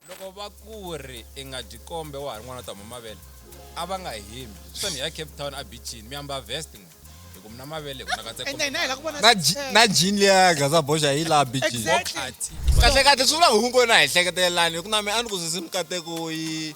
loko va ku ri i nga dyi kombe wa ha ri n'wana u ta huma mavele a va nga himi switani ya cape town a bichini mi yamba vest n'we hi ku mi na mavele hi ku na katse ende hina hi la ku vona na ji- na jini liya gaza boxa hi laha bichini Exactly. kahle kahle swi vula hungu na hi hleketelelani hi ku na mi a ni ku sisi mikateko yi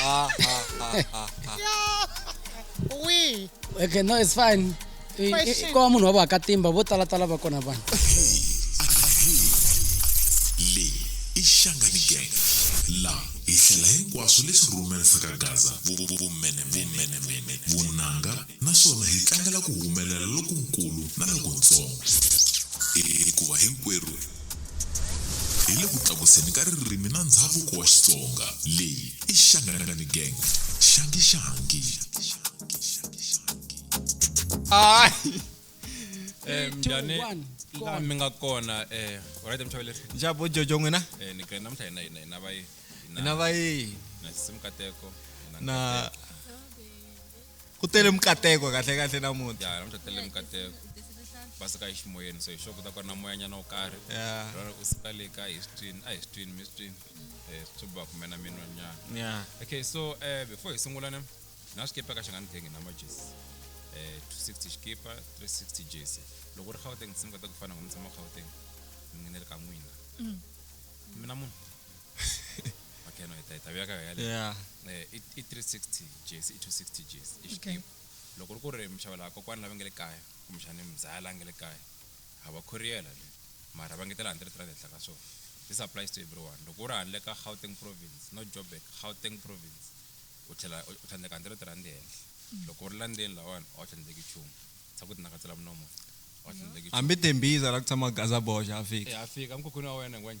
Ah, ah, ah, ah, ah. Ui. okay no it's fine I- i- Question. ko va munhu wa vakatimba vo talatala va kona vanhu leyi i xangani gang la hi hlela hinkwaswo leswi rhumela saka gaza vumenemene vunanga naswona hi tlangela ku humelela lokunkulu na lokuntsongo, hikuva hinkwerhu hi le ku tlakuseni ka ririmi na ndzhavuko wa Xitsonga. Leyi i Shangani Gang, Shangi Shangi. Hayi. Eh Two, mjane one, go la on. mi nga kona eh alright mchaveleri Njabo Jojo n'wina? eh ni kena mtha hina hina hina vayi Hina va yini? na simu kateko Na ku tele mikateko kahle kahle namuntlha ya namuntlha tele mikateko va suka eximoyeni so hi sure ku ta ku ri na moyanyana wo karhi lora u suka le ka hi swi twini a hi swi twini mi swi twini um swi ba kume na minwanyana okay so um before hi sungula ne na xikipa ka xi nga ni thengi na majesi um two sixty xikipa three sixty jesi loko u ri gauteng se mi kota ku fana ngo mi tshama gauteng mi ngenele ka n'wina mm. mina munhu okay no ta ta vuyaka yale yeah eh, i i 360 Gs i 260 Gs i xitimu loko ri ku ri mixava laha kokwana lava nge le kaya kumbexani mzala nge le kaya a va khoriyela le mara va ngetela 100 rand henhla ka swona this applies to everyone loko u ri handle ka gauteng province no joburg gauteng province u tlhela u tlhandleka 100 rand henhla loko u ri landzeni lawani a wu tlhandleki nchumu sa ku tinakatsela munomo a wu tlhandleki nchumu hambi tembhiza la ku tshama gazaboxa a fika Eh, a fika emkhukhwini wa wena ngwenya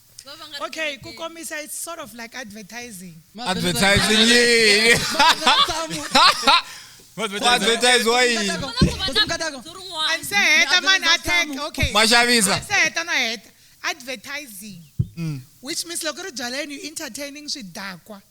Va va nga ri okay ku kerekeni. komisa it's sort of like advertising advertising yini ku advertisiwa yini Kona ku va na Mukatako. bindzu rin'wana. and se heta mani a tag okay maxavisa se heta no heta advertising which means loko ri byaleni you entertaining swidakwa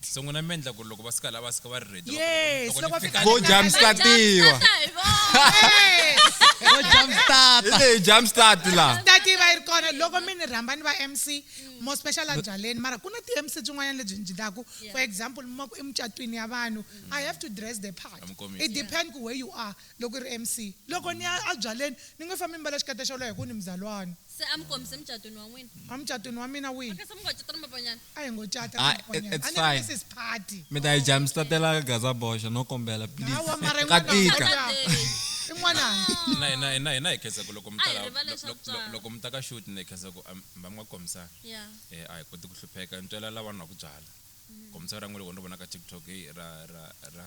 So n'wina mi endla ku ri loko va suka la va suka va ri ready Yes, loko ni loko fika fika Vo le- jump start-iwa. Vo jump start. Hi leyi jump start laha. ta tiva yi ri kona loko mi ni rhamba ni va mc mo special a byaleni mara ku na ti-mc byin'wanyana lebyi byi ndaku for example mi ma ku emucatwini ya vanhu i have to dress the part Amkomisi. it depend ku where you are loko i ri mc loko ni ya a byaleni ni nge fambi ni mbala xikete xolowo hi ku ni muzalwana se a mi kombise emucatweni wa n'wina amucatweni wa mina wihi okay se mi ngo cata ni mapanyana a hi ngo cata Ah, it- it's a ni fine. ri mrs party mi ta yi dya mi statela gaza boxa no kombela please Hawa, mara ka yin'wana tika Tata Dave. i n'wananga hina hina hina hina hi khensa ku loko mi A hi ta la- rivale lo- swa lo- lo- tswala. loko mi ta ka shoot ni khensa ku am- mi va mi nga kombisanga ya Eh, a hi koti ku hlupheka ntswela lavanhu va ku byala kombisa ra n'we loko ni vona ka tiktok heyi ra ra ra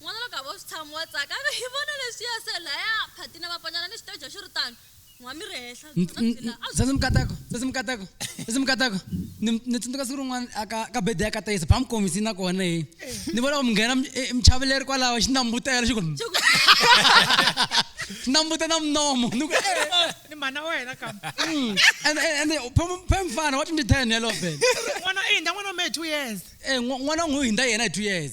N'wana loko a vo swi tshama wa tsaka a ve hi vona leswiya se laya phatina va ponyana ni xiteja xi ri tano n'wa mi ri hehla Nt- byona byi nt- la a byi Sesi Mukateko, Sesi Mukateko, Sesi Mukateko. Ni ni tsundzuka siku rin'wana aka ka bede ya ka Tayisa, ba mi kombisi na kona he. Ni vona ku mi nghena mi- eh, michaveleri kwalaho xi nambutela xi ku xi nambuta na mnomo. Ni ku eh, ni mhana wa hina kambe mm. And and and phe- phe mfana wa 2010 yalowo bede. n'wana i hindza n'wana wa mehe two years Eh n'wa- n'wana n'wi hinda yena hi 2 years.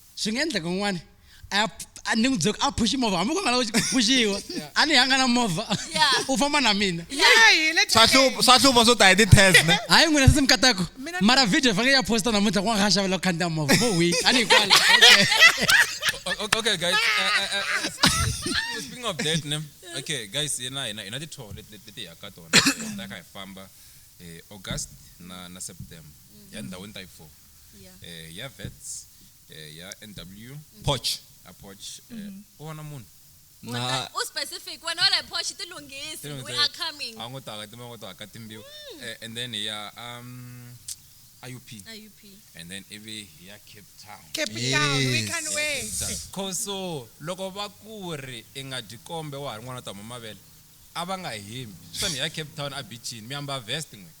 swi nga endleka un'wana ni n'wi byela ku a phuxi movha hambi ku nga lavi ku phuxiwa a ni yanga na movha u famba na mina swa hlupha swo ta hi ti-test ne hayi n'wina se se mi katako mara video fange ya posta namuntlha ku nga kha xavela ku khandziya movha mo week a ni yi kwala okay guys uh, uh, uh, speaking of that ne okay guys yena yena yena ti-tour leti ya ka tona ta kha hi famba eh, august na na september ya ndhawini ta yi four Yeah. eh, ya vets eh, ya nw poch a poch eh, u vona munhu na Wena u specific wena wala posh tilunghisi Tino we nse- are coming. a ngo taka tima ngo taka timbiwa Eh, and then ya um iup IUP. and then ivi ya cape town Cape Town, we Yes. can wait. khoso loko va ku ri i nga dyi kombe wa ha ri n'wana ta mama mavele a va nga hembi swani ya cape town a bichini mi yamba vest n'wina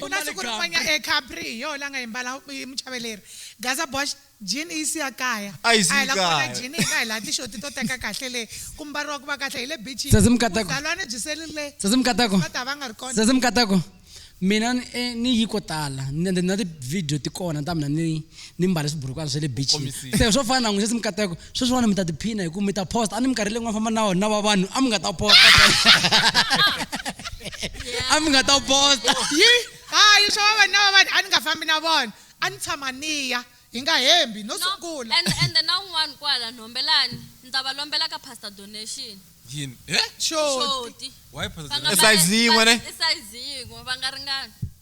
ku na siku rin'wanya e capri hi yoho la nga yimbala muchaveleri gaza bosh jini yi siya kaya a hi la kona jini hi nga hi laha tixoti to teka kahle le ku mbariwa ku va kahle hi le bichidalwane byi selile ta va nga ri konamkatako mina eh, ni yi ko tala ende na ti-video ti kona ta mina ni ni mbale swiburukwana swa le bichini se swo fana na n'wi se simkatako sweswiwani mi ta tiphina hi ku mi ta post a ni minkarhi leyi n'wana famba na wona va vanhu a mi nga ta post a mi nga ta post yi hayi swa va na va vanhu a ni nga fambi na vona a ni tshama niya hi nga hembi no sungula and and na un'wana kwala nhombelani ni ta va lombela ka pastor donation yini eh shoti why pastor donation size yin'we ne size yin'we va nga ringani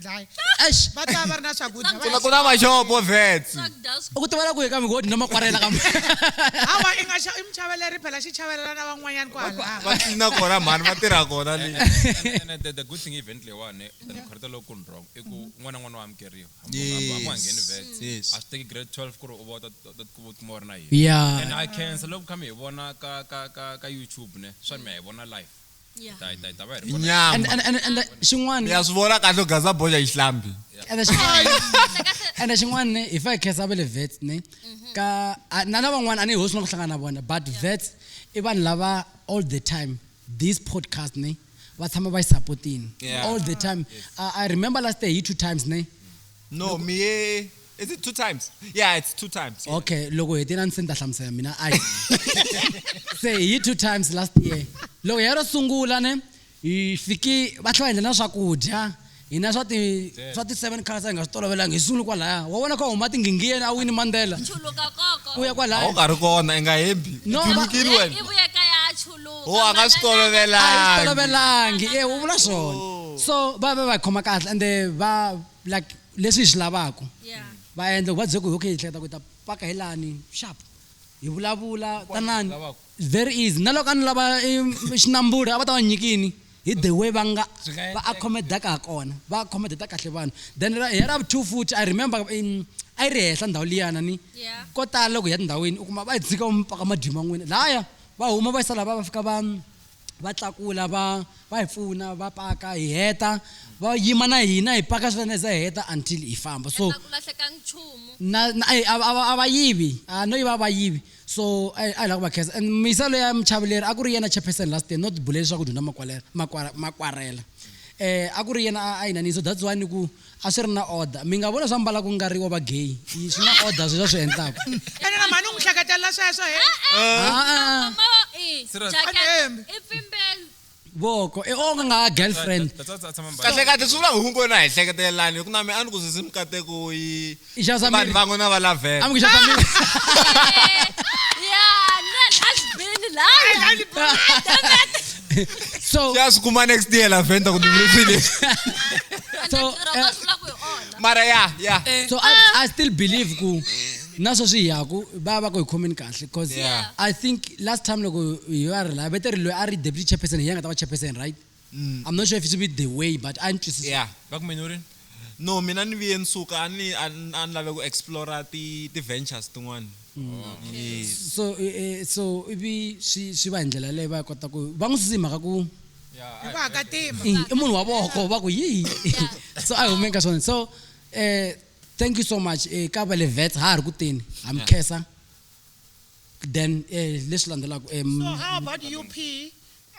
dlaya Eish. va ta va va ri na swakudya va Ku na- ku na maxopo vets u ku tivela ku ye ka migodi no makwarela ka hawa i nga xa- i muchaveleri phela xi chavelela na van'wanyani ku halava va tlina kona mhani va tirha kona le And- and the, the good thing event leyiwani than khorita loko ku ni wrong i ku n'wana n'wana wa amukeriwa hamuhangeni vets Yes. a swi teki grade 12 ku ri u va u ta- ta- ta- u tikuma u ri na yini Yeah. and i cancer loko kha mi hi vona ka ka ka ka youtube ne swa mi ya hi vona live Yeah. ta ta ta va hi ri kona. nyama And, and, and, and uh, xin'wana ya swi vona kahle u gaza boxa hi xihlambi and xin'wana and xin'wana ne if i khensa va le vets ne ka a- na lavan'wana a ni hosi na ku hlangana na vona but vets i vanhu lava all the time this podcast ne va tshama va yi sapotini Yeah. all the time I, i remember last day hi two times ne no Loko- mi ye is it two times yeah it's two times yeah. okay loko hi tena ni se ni ta hlamusela mina a hi se hi two times last year loko ya ro sungula ne hi fiki va tlhela va endla na swakudya hina swa ti swa ti seven cars a hi nga swi tolovelanga hi sungule kwalaya wa vona ka huma tinghingiyeni a wini mandela chuluka koko u ya a wu kwalaya nga ri kona i nga hembi No, i ma- timukini wena ivuye kaya lowu Wo, a nga swi tolovela. a yi tolovelangi e u vula swona Oh. so va va va khoma kahle ende va like leswi hi swi lavaka Yeah. va endla ku va byela ku okay hi hleketa ku hi ta paka hi lani sharp hi vulavula tanani lavaka. very easy na loko a ni lava eh, xinamburi a va ta va nyikini hi the way va nga Swi nga va endleka. accommodaka ha kona va accommodata kahle vanhu then ra- hi ra two futhi i remember in a yi ri henhla ndhawu liyana ni Yeah. ko tala loko hi ya tindhawini u kuma va yi dzika va mi paka madima n'wina laya va huma va yisa lava va fika va va tlakula va va hi pfuna va paka hi heta va yima na hina hi paka swinene za hi heta until hi famba so ku lahleka nchumu na na a a- a- a va yivi a no yiva a va yivi so a hi a hi lava ku va khensa and misa leya muchaveleri a ku ri yena chairperson last year not bule leswaku dyondza makwalera makwara makwarela eh a ku ri yena a- a yi nanisa that's why ni ku A swi ri na order. Mi nga vona swa mbala ku nga ri wa va gay. I swi na order sweswi a swi endlaka. Ene na mhani u n'wi hleketela sweswo he. Voko e onge nga ha girlfriend. Kahlekahle swi vula hungu wena a hi hleketelelani hi ku na mehe a ni ku sisi mikateko yi. Ijazamiri. vanhu van'we na va lavhela I'm Ijazamiri. Yeah, man, has been lying. Ah, damn it. So, ya swi kuma next year lavenda ku ndivulifile And So, ntirho eh, wa swi lava ku hi onha. mara ya ya so I, I still believe ku naswo swi yaku va va ku hi khomeni kahle because Yeah. I think last time loko hi va ri la vete ri loyi a ri deputy chairperson hi yena a nga ta va chairperson right I'm not sure if it's with the way but a ni twisisa. Yeah, va ku menu rini? No, mina ni viye ni suka a ni a ni a ni lave ku explore ti ti ventures tin'wana. Yes. So eh, eh, so ivi swi swi va hi ndlela leyi va kota ku va n'wi susise hi mhaka ku Yeah, Hi ku haka tima. i i munhu wa voko va ku yi so a hi humeni ka swona so eh thank you so much eh ka va le vet ha ha ri ku teni ha mi Yeah. khensa then eh leswi landzelaka em So how about UP?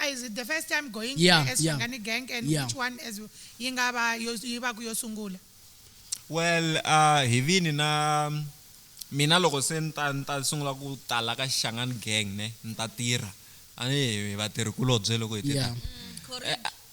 A is it the first time going Yeah, there as yeah. Shangani Gang and Yeah. which one as yi nga va yo yi va ku yo sungula? well uh, hi vini na mina loko se ni ta ni ta sungula ku tala ka xangani gang ne ni ta tirha a ni hi vatirhikulobye loko hi tirha Yeah. Eh,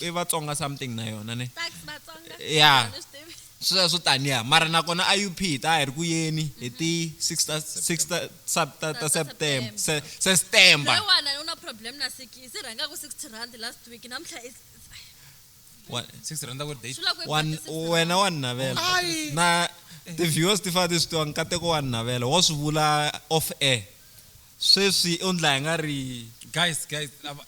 i vatsonga something na yona ne ya sweswo taniya mara nakona a up hi ta hi ri ku yeni hi mhm. ti 6 ta 6 ta sub ta ta september se se september no one una problem na sikisi ranga ku 60 rand last week namhla is wena wa ninavela na ti-viewers ti fane ti swi tiva nkateko wa ninavela wo swi vula off air sweswi u ndla hi nga ri guys guys lava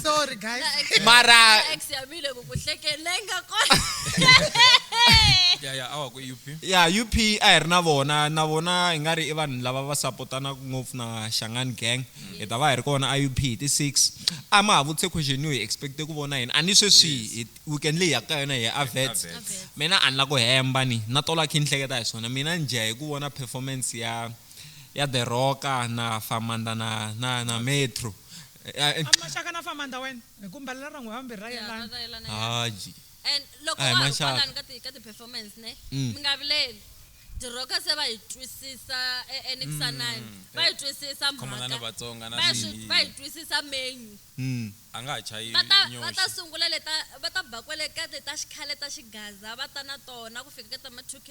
sorry guys mara ex ya mile ku ku hlekelenga ko ya ya awa ku up ya up a hi ri na vona na vona hi nga ri i vanhu lava va sapotanaka ngopfu na xangani gang hi ta va hi ri kona a up hi ti six a ma ha vutise question yo hi expecte ku vona yini a ni sweswi weekend leyi yaka ka yona hi ya avets mina a ni la ku hemba ni na tola khe ni hleketa hi swona mina ni dya hi ku vona performance ya ya The Rock na Famanda na na na Metro. Eh, eh, a maxaka na famanda wena hi ku mbalela ra n'we vambirhi ra yelana Haji. and loko Ai, wa ha ri maxaka. kwalani ka ti- ka ti-performance ne Mm. mi nga vileli diroka se va yi twisisa e- enixanani va yi twisisa Mm. Khomana na mhaka Vatsonga na va yi swi- swinyi. va yi twisisa menyu Mm. a nga ha chayi va ta va ta nyoxi sungula leta va ta ba kwale ka leta xikhale ta xigaza va ta na tona ku fika ka ta ma 2 k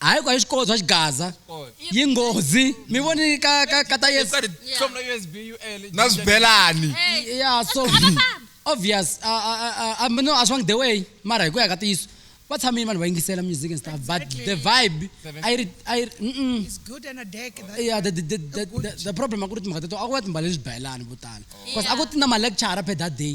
hayi kwa xikolo swa xigaza yi nghozi mi voni ka ka ka ta yesu Got it. Yeah. From the USB, UL. na swibelani Hey, ya so obvious a- a- a- a- a- no a swi vangi the way mara hi ku ya ka tiyiso va tshamile vanhu va yingisela music and stuff but the vibe a yi ri a yi ri mm-mm. It's good and a deck. That, yeah the, the, the, the, the, the problem a ku ri timhaka teto a ku va timbale leswi bayelani vo tala bcause a ku ti na malecture per that day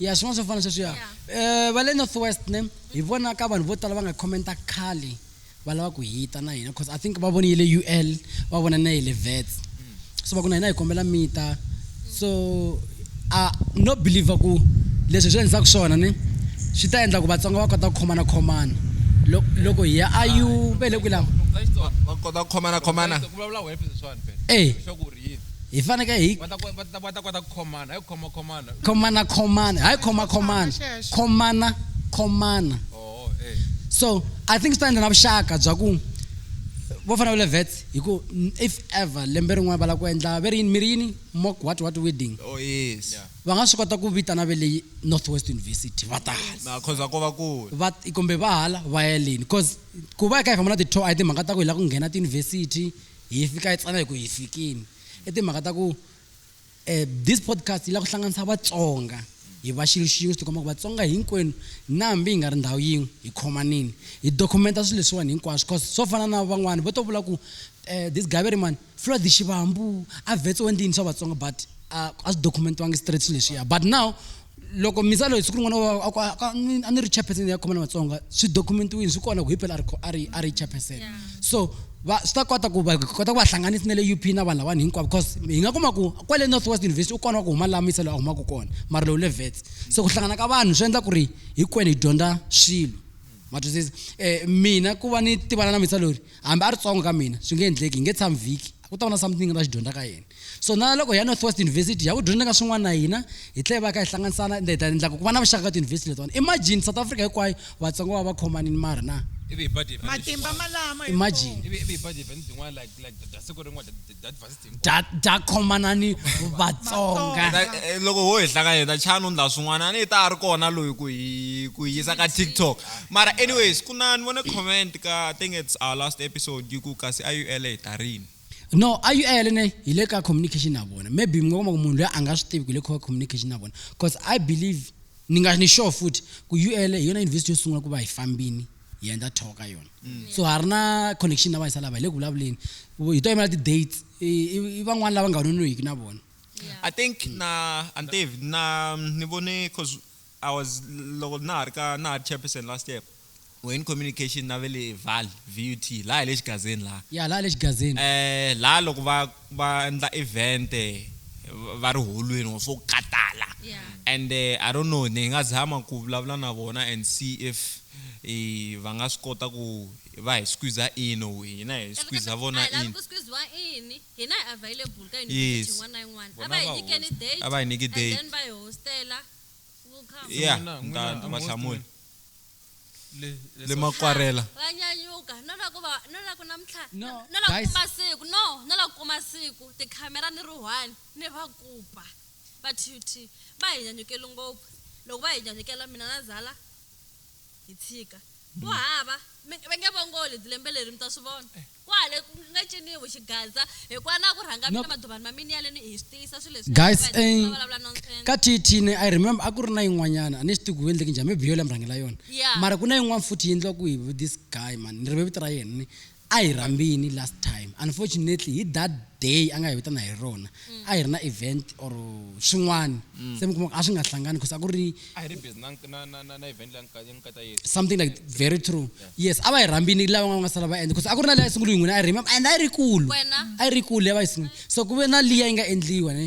ya swin'wana swo fana sweswiya um va le north west ne hi vona ka vanhu vo tala va nga commenta khale va lava ku hita na hina because i think va vonile u l va vona na yi le vets so va ku na hina hi kombela mita so a no believer ku leswi hi swi endlisaka swona ni swi ta endla ku vatsonga va kota ku khomana khomana loko hi ya a yu ve le kwihi lava va kota ku khomana khomana e hi fanekele hi va ta kota ku khomana hayi ku khoma khomana khomana khomana hayi khoma khomana Xexo. khomana khomana oh eh so i think swi ta endla na vuxaka bya ku vo fana va le vets hi ku n- if ever lembe rin'wana va lava ku endla ve ri yini mi ri yini mock what what wedding oh yes Yeah. va nga swi kota ku vitana ve leyi northwest university va tala na cause va ko va kule va kumbe va hala va yeleni cause ku va hi kha hi famba na ti-tour a hi timhaka ta ku hi lava ku nghena tiyunivhesiti hi fika hi tsana hi ku hi fikini i timhaka ta ku eh, this podcast yi lava ku hlanganisa vatsonga hi va xilo xin'we swi tikomba ku vatsonga hinkwenu na hambi hi nga ri ndhawu yin'we hi khomanini hi documenta swilo leswiwani hinkwaswo cause swo fana na van'wani vo to vula ku eh, this gaveri mani flood xivambu a vetse wendini swa vatsonga but a swi documentiwangi straight swilo leswiya but now loko mi tsala hi siku rin'wana wa- a ku- a- a- ni- a ni ri chairperson ya khoma na vatsonga swi documentiwini swi kona ku hi phela a ri kho- a ri a ri chairperson so va swi ta kota ku va hi kota ku va hlanganisa na le up na vanhu lavani hinkwavo because hi nga kuma ku kwale north west university u kona wa ku huma laha miselo a humaka kona mara lowu le vets so ku hlangana ka vanhu swi endla ku ri hinkwenu hi dyondza swilo matwisisa um mina ku va ni tivana na misa lori hambi a ri tsongo ka mina swi nge endleki hi nge tshami vhiki ku ta va na something va xi dyondza ka yini so na loko ya northwest university ya ku dyondza ka swin'wana na hina hi tlhe va ka hi hlanganisana ende hi ta endlaka ku va na vuxaka ka tiyunivhesiti letiwana imagine south africa hinkwayo vatsongo va va khomanini mari na ivi hi ba diva matimba malama hi imagine ivi ivi hi ba diva ni tin'wana like like da- da siku rin'wana da- da- da diversity hinkwayo. dya dya khomanani vatsonga Na- eh, loko ho hi hlanganyeta chani u ndla swin'wana a ni ta a ri kona loyi ku hi ku hi yisa ka tiktok Mara anyways, kunani vone comment ka I think it's our last episode yi ku kasi IUL hi ta rini. no a yu ele ne hi le ka communication na vona maybe mi nga kuma ku munhu loyi a nga swi tivi ku hi le ka communication na vona because i believe ni nga ni sure futhi ku u ele hi yona university yo sungula ku va hi fambini hi endla talk ka yona so ha ri na connection na vayisa lava hi le ku vulavuleni hi to yimela ti-dates i i- i van'wana lava nga nonohiki na vona I think na Antev na ni vone cause I was loko na ha ri ka na ha ri chairperson last year we're in communication na vele val VUT la hi le xigazeni la ya la le xigazini eh la loko va va endla event va ri holweni or swo katala and I don't know ni nga zama ku vulavula na vona and see if i va nga swi kota ku va hi squeeze in or hina hi squeeze vona in ku squeeze wa in hina hi available ka university yin'wana na yin'wana a va hi nyikeni date a va hi nyiki date and then va hi hostela We'll come. ya N'wina- ta n'wina, I'm va host hlamula n'wina. Le- le le so- makwarela va nyanyuka no la ku va no la ku namtlha No, no- no la ku guys. kuma siku no no la ku kuma siku tikhamera ni ri one ni va kupa va tut va hi nyanyukeli ngopfu loko va hi nyanyukela mina na zala hi tshika ku hava mi- va nge vongoli lembe leri mi ta swi vona kwale ku nga ciniwi xigaza hikuva na ku rhanga mina Nope. maduvani ma mina yaleni hi swi tiyisa swilo leswi Guys, va- eh, va vulavula nonsense. ka thithine i remember a ku ri na yin'wanyana a ni swi tivi ku endleke njhani maybe yo la mi rhangela yona Yeah. mara ku na yin'wana futhi yi endliwa ku hi this guy man ni rive vito ra yena ni a hi rhambini last time unfortunately hi that day a nga hi vitana hi rona a hi ri na event or swin'wana se mi kuma a swi nga hlangani because a ku ri a hi ri busy na na na na, na event leyi nga nga ta yesa something like very true yes a va hi rhambini lava nga nga sala va endla because a ku ri na leyi a yi sungule hi n'wina a yi rima and a yi ri kulu Wena? a yi ri kulu leyi a va yi sungule so ku ve na liya yi nga endliwa ne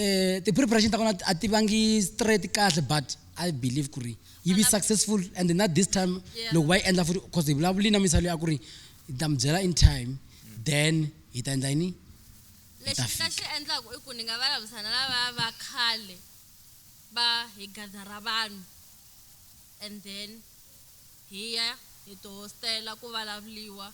eh ti-preparation ta kona a ti vangi straight kahle but i believe ku ri yi vi successful and na this time Yeah. loko va yi endla futhi because hi vulavuli na misalo ya ku ri hi ta mi byela in time then hi ta endla yini Lexi ni nga fika. xi endlaku i ku ni nga vulavurisa na lavaya va khale va hi gathara vanhu and then hi ya hi to hostela ku vulavuliwa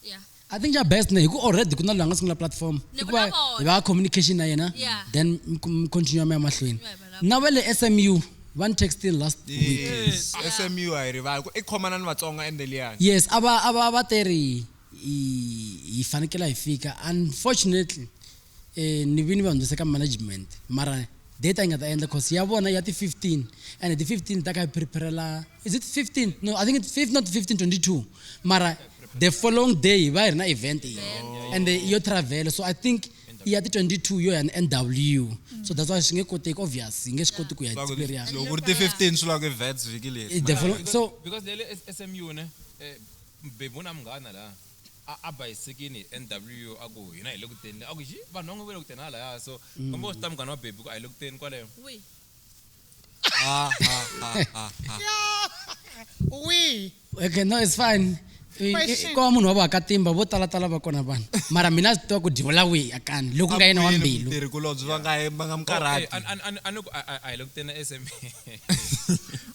ya I think xa best ne hi ku already ku na loyi a nga sungula platform Ni i ku va vulavula. hi va ya communication na yena Yeah. then mi ku- mi continue mi ya mahlweni Mi ya vulavula. na va le SMU va ni textile last week Yes. SMU a yi rivali ku i khomanani Vatsonga ende liyani. yes a va a va va teri hi hi fanekela hi fika unfortunately eh ni vini va hundzise ka management mara date a yi nga ta endla cause ya vona ya ti 15 and ti 15 ta ka hi preparela is it 15 no i think it's 5 not 15 22 mara the following day hi va hi ri na event yi and eh, yo travel so i think ya ti 22 yo ya ni nw so that's why swi nge koteki obvious hi nge swi koti ku ya Swa ku ri- experience loko ku ri ti 15 swi lava ku events vhiki leri Eh, the following- so because lele SMU ne eh, Mubebyi u na munghana la a a ba esekeni hi NWU a ku, Hina hi le ku teni le. A ku, Yi, vanhu van'we va le ku teni halahaya. So, komba u swi ta munghana wa Bebby ku a hi le ku teni kwale. Wihi? Wihi? Okay, no, it's fine. I- i- Question. Ko munhu wa vakatimba vo tala tala va kona vanhu. Mara mina a swi tiva ku dyiwela wihi a kani loko ku nga yena wa mbilu. kulobye va nga va nga Okay, mukarhati an- an- an- a ni ku a- a- a hi le ku teni eSMB.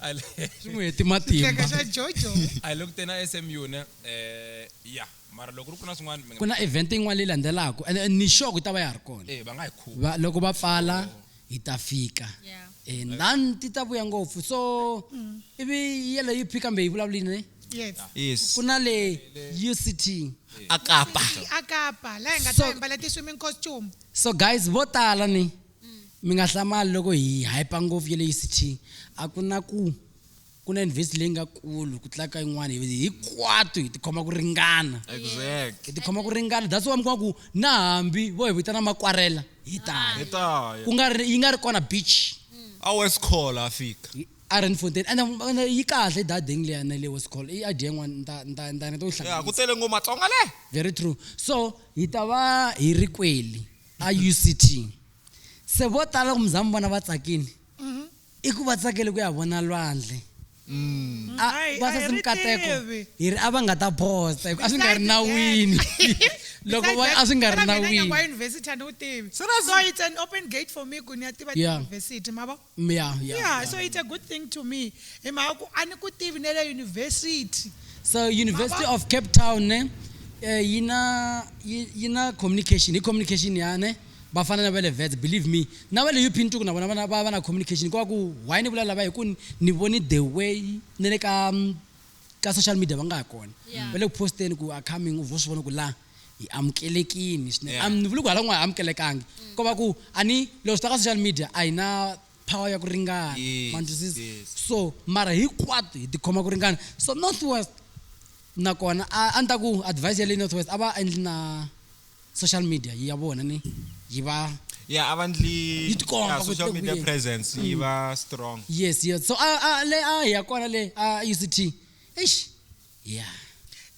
a le- swi n'wi heti matimba Xaka xa Jojo. a hi le ku teni a smu ne eh ya mara loko ri ku na swin'wana mi nga- ku na event yin'wana leyi landzelaka and and ni sure ku ta va ya ha ri kona eh va nga hi khuva Va- loko va pfala hi ta fika Yeah. Eh, lani ti ta vuya ngopfu so ivi yeleyo yi phi kambe yi vulavulini Yes. yes ku na le uct a kapa Akapa la hi nga So- ta mbala ti swimming costume. so guys vo tala ni mm. mi nga hlamali loko hi hyper ngopfu ya le uct a ku na ku ku na university leyi nga kulu ku tlaka yin'wana hikwatu hi tikhoma ku ringana hi tikhoma ku ringana that's why mi kuma ku na hambi vo hi vitana makwarela hi taya ku nga ri yi nga ri kona beach mm. a wescola a fika iron fontain and yi kahle dadeng leya na le wescol i idea yin'wana ntaneta ku tele ngo matsonga le very true so hi ta va hi ri kweli a uct se vo tala ku mi za mi vona va tsakile mhm. i ku va tsakele ku ya vona lwandle mm. va sasi mikateko hi ri a va nga ta posta hi ku a swi nga ri nawini loko va a swi nga ri nawini so it's an open gate for me ku ni ya tiva tiuniversity ma vo Mm, ya, ya, yeah ya. so it's a good thing to me hi mhaka ku a ni ku tivi ne le yunivhesiti so university Baba. of cape town ne eh, yi na yi yi na communication hi communication ya ne va fana na va le vets believe me na va le up ntuku na vona va na- va va na communication kwa ku why ni vula lava hi ku ni- ni voni the way ni le ka mm, ka social media va nga ha kona Yeah. va le ku posteni ku are coming u vo swi vona ku la hi amukelekini swinene Yeah. Am- ni vuli ku hala n'wana a amukelekangi Mm. ko va ku a ni loko swi ta ka social media a hi na power ya ku ringana Yes, ma ni twisisa? yes. so mara hinkwato hi tikhoma ku ringana so north west nakona a a ni ta ku advice ya le north west a va endli na social media yi ya vona ni yi va ya a va ndli Yi tikomba ya, ku social tlula media kwihi. presence yi Mm. va strong yes yes so a a le a hi ya kona le a uct eish ya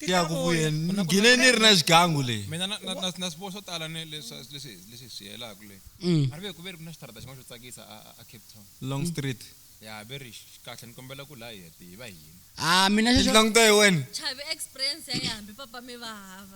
ya ku ku Titlakuyi. yena Ku na- ku na- ngine ni ri na xigangu leyi mina na- na- na- na swiboho swo tala ni leswi leswi- leswi swi yelaka le Mm. a ri ve ku ve ri ku na xitarata xin'wana xo tsakisa a- a- a cape town long street ya ve ri xi- kahle ni kombela ku laha hi hete hi va hina a mina xexo tilanguta hi wena Chavi experience ya yambi papa mi va hava.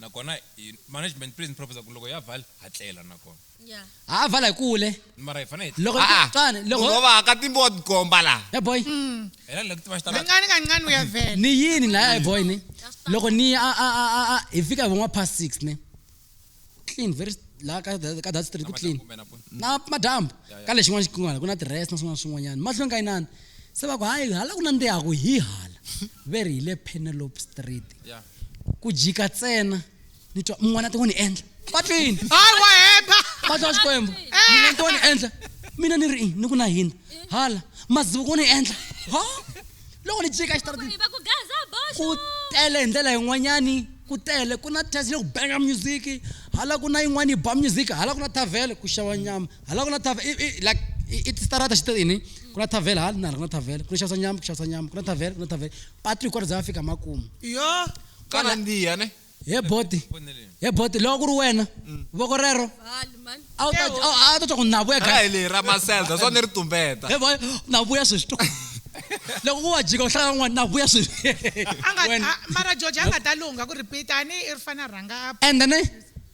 nakona hi management please ni professor ku loko ya vala ha tlela nakona ya ha a vala hi kule mara hi fanele hi loko Ah, ah. tswani loko Munhu va ka timbo wa tikomba laha ya boy hela loko ti va xi ta kancane kancane uyavela ni yini laya ya boy ni loko ni ya a- a- a- a- a- hi fika hi von'wa past six ne clean very laha ka that- ka that street ku clean kumbe na pona na madambu ka lexi n'wana xikungwana ku na tirest na swin'wana na swin'wanyana mahlweni ka inani se va ku hayi hala ku nandzihaku hi hala ve ri hi le penelope street ya ku jika tsena ni twa mun'wana a ti wo ni endla patwini hayi wa heta patwa wa xikwembu mun'wana ti wo ni endla mina ni ri i ni ku na hina hala mazivo ku ni endla ha loko ni jika exitaratini ku tele hi ndlela yin'wanyani ku tele ku na test yo ku benga music hala ku na yin'wana yi ba music hala ku na tavele ku xava nyama Hala ku na tave- i- i- like i- i tistrata xi te ini ku na tavele hala nala ku na tavele ku na xavisa nyama ku xavisa nyama ku na tavele ku na tavele patu hikwaro za va fika makumu yo ka Kwala- nandziha ne he boti he boti loko ku ri wena voko rero Hali mani. a wu ta a wu- a wu ta twa ku navuya ra hi leyi ra maselda swa ni ri tumbeta he boy navuya sweswi to loko ku wa jika u hlaya n'wana navuya sweswi a nga Wena. a- mara george a nga ta lungha ku repeat a ni i ri fana rhanga a and then eh,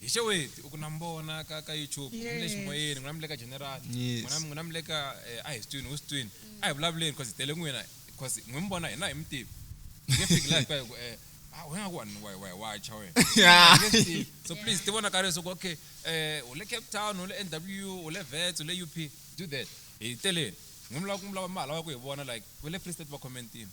Hi xeweti u ku na mbona ka ka YouTube yes. mule ximoyeni n'wina mule ka general yes. n'wina n'wina mule ka eh, a hi sitwini wu sitwini a hi vulavuleni because hi tele n'wina because n'wi mi vona hina hi mi tivi nge fiki laha ka ku eh ah wena ku wani wa wa wa cha wena so please ti vona ka leswi ku okay eh u le Cape Town u le NW u le Vets u le UP do that hi teleni n'wi mi lava ku mi lava mi ha lava ku hi vona like we le Free State va commentini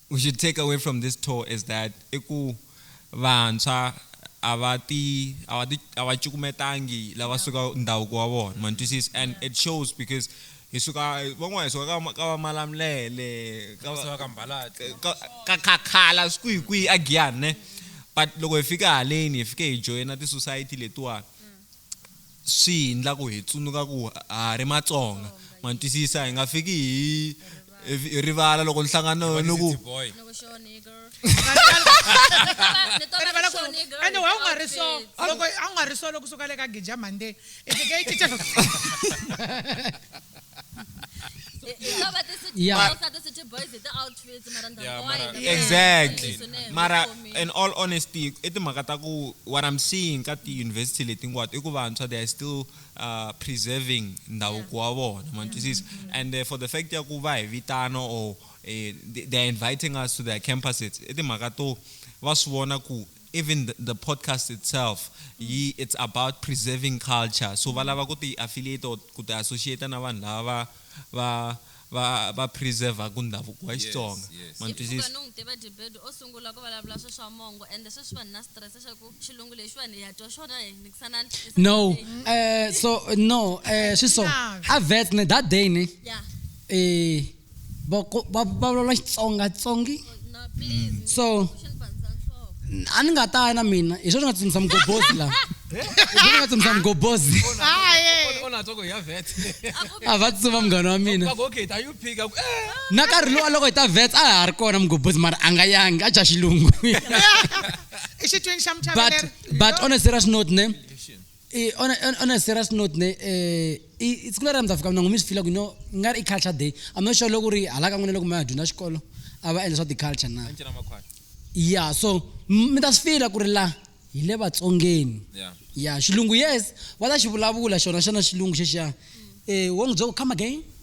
We should take away from this tour is that i ku vantshwa a va ti a va ti a va cukumetangi lava suka ndhavuko wa vona ma ni twisisa and it shows because hi suka van'wana hi suka ka ka va malamulele ka va suka ka mbalati ka ka khakhala swi kwihi kwihi a giyani ne but loko hi fika haleni hi fike hi joyina ti-society letiwani swi hi ndla ku hi tsundzuka ku ha ri matsonga ma twisisa hi nga fiki hi hi rivala loko nhlangano ni ku ende wa u nga ri so loko a wu nga ri so loko suka le ka gija monday i fike i cinca Yeah. How about the city Yeah. boys? Are the city boys? Is the out exactly mara in all honesty i timhaka ta ku what i'm seeing ka ti-university leti hinkwato i ku vantshwa they are still uh, preserving ndhavuko wa vona mantwisisa mm-hmm. and uh, for the fact ya ku va hi vitana or eh, they are inviting us to their campuses i timhaka to va swi vona ku even the, the podcast itself mm. it's about preserving culture so va lava ku ti-affiliate or ku ti-associate na vanhu lava va va va preservaku ndhavuko wa Xitsonga yes, yes. ma ni twisisa no n'wi tiva Dibedo o sungula ku vulavula swi swa mongo ende sweswi vanhu na stress xa ku xilungu lexiwani hi ya twa xona hi nikisanani no eh so no eh swi so a vet ne that day ne yeah eh va va vulavula Xitsonga tsongi so a ni nga ta ya na mina hi sweswi nga tsutsumisa mugobozi laha hi nga tsutsumisa mugobozi a va tsutsuma munghana wa mina na karhi lowa loko hi ta vets a ha ri kona mugobozi mara a nga yangi a dya xilungu but but on a serious note ne Eh, on, a, on, on a serious note ne eh, i- i- siku leri a mi ta fika mina ngumi swi fila ku you know ku nga ri i culture day i'm not sure loko ri hala ka n'wina loko ma ya dyondza xikolo a va endla swa ti-culture na Encina Makhwaya. ya so m- mi ta swi fila ku ri la hi le vatsongeni Yeah. ya xilungu yes va ta xi vulavula xona xana xilungu xexiya um wo n'wi byela ku come again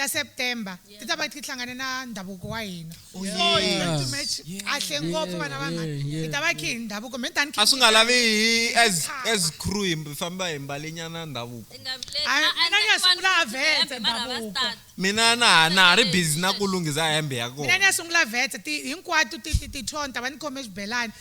ta September ti ta va ti hlangane na ndhavuko wa hina oh, so it's going to match kahle ngopfu vana vanghana hi ta va khe hi ndhavuko me tani a swi nga lavi hi as as crew hi famba hi mbale nyana ndhavuko mina ni ya sungula vetse ndhavuko mina na ha na ha ri busy na ku lunghisa hembe ya kona mina ni ya sungula vetse ti hinkwato ti ti ti tona ta va ni khome xibelani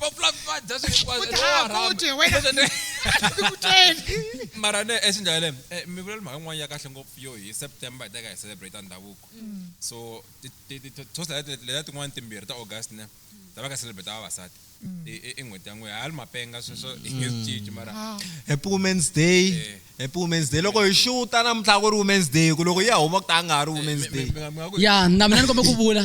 va fulavadza swi hinkwaswo Futhi a ha futhi, wena. Kuteni. mara ne ex njhani le eh, mi vula mhaka yin'wana ya kahle ngopfu yo hi september hi teka hi celebrate ndhavuko so ti- ti- ti- ti- toast leti- leti- letiya tin'wana timbirhi ta august ne ta va ka celebrate ta vavasati I- i- i n'hweti ya n'we hali mapenga sweswo i cinci mara happy women's day Eh. happy women's day loko hi xuta namuntlha ku ri women's day ku loko yi ya huma ku ta a nga ha ri women's day mi- mi- mi nga ku ya na mina ni kombe ku vula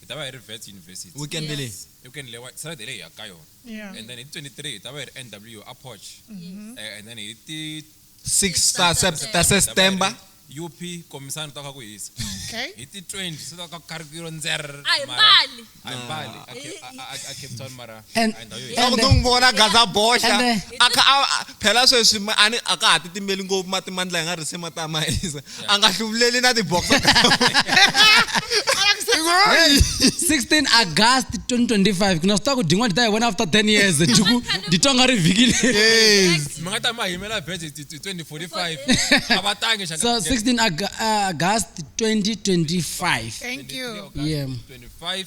hi ta va hi ri Wits University. Weekend leyi. Yes. I weekend leyi wa Saturday leyi hi yaka ka yona. Yeah. And then hi ti 23 hi ta va hi ri NW a Poch. Yes. Eh, and then hi ti Six ta ta September. ta September. UP komisani ta ka ku hisa. Okay. Hi ti 20 se ta ka karikiro nzer. A hi mara- mbali. A hi mbali. A Ke- a- a- a Cape Town mara. and swa ku n'wi vona gaza boxa a kha a phela sweswi a ni a ka ha titimeli ngopfu mati mandla hi nga risi mati a ma hisa a nga hluvuleli na tibox 16 august 2025 ku na swi ta ku din'wana ti ta hi vona after 10 years juku ndi twa nga ri vhiki leri mi nga ta ma yimela bet 2045 a va tangi so 16 august 2025 thank you yeah 25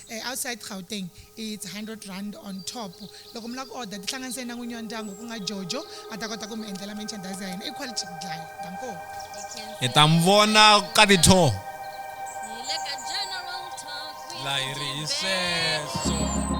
Outside Gauteng, it's 100 rand on top. Loko mi lava ku order, tihlanganiseni na n'winyi wa ndyangu ku nga Jojo a ta kota ku mi endlela merchandise ya hina. I quality ku dlaya. Danko. Hi ta n'wi vona ka Vito. Hi le ka General Talk with La hi ri hi Jimbezo. sweswo.